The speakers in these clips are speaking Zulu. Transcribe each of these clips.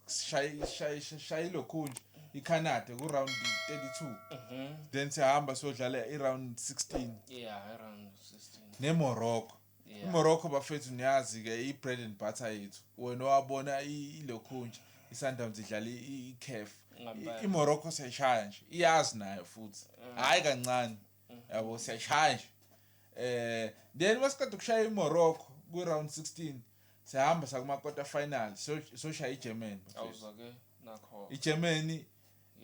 sishaye ilokhunja icanada kuround 32 mhm. then siyahamba siyodlala iround 16 nemorocco imorocco bafethu niyazi-ke i-bread and butter yethu wena owabona ilokhunja isundowns idlala icaf imorocco siyayishaya nje iyazi nayo futhi hhayi kancane mhm. yabo siyashaya nje eh then wasiqeda ukushaya iMorocco ku round 16 sihamba sakuma quarter final so so shaya iGermany awuza ke nakho iGermany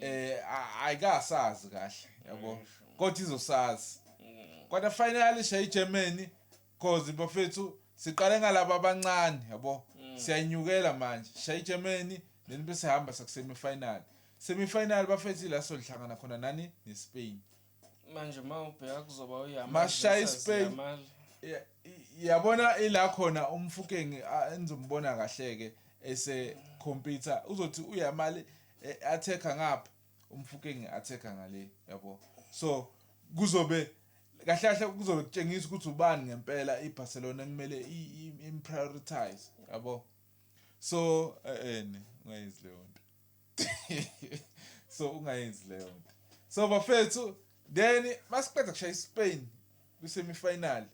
eh ayikasazi kahle yabo kodwa izosazi mm. quarter final shaya iGermany Cause bafethu siqale ngalabo abancane yabo siyayinyukela manje sishaye iGermany then bese hamba sakusemi final semi final bafethu ila sohlangana khona nani neSpain manje uma ubheka kuzoba uyamal Mashayi versus Spain. Yamal. Ya- i- yabona ila khona umfukeng a- engizombona kahle ke ese computer uzothi uyamali attacker ngapha Umfukeng ngi attacker ngale yabo so kuzobe kahle kahle kuzobe kutshengisa ukuthi ubani ngempela iBarcelona ekumele imprioritize yabo so eh, eh ne ungayenzi leyo nto so ungayenzi leyo nto so bafethu then masiqeda kushaya iSpain kwisemi final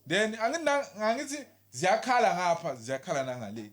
then angina ngithi ziyakhala ngapha ziyakhala nangale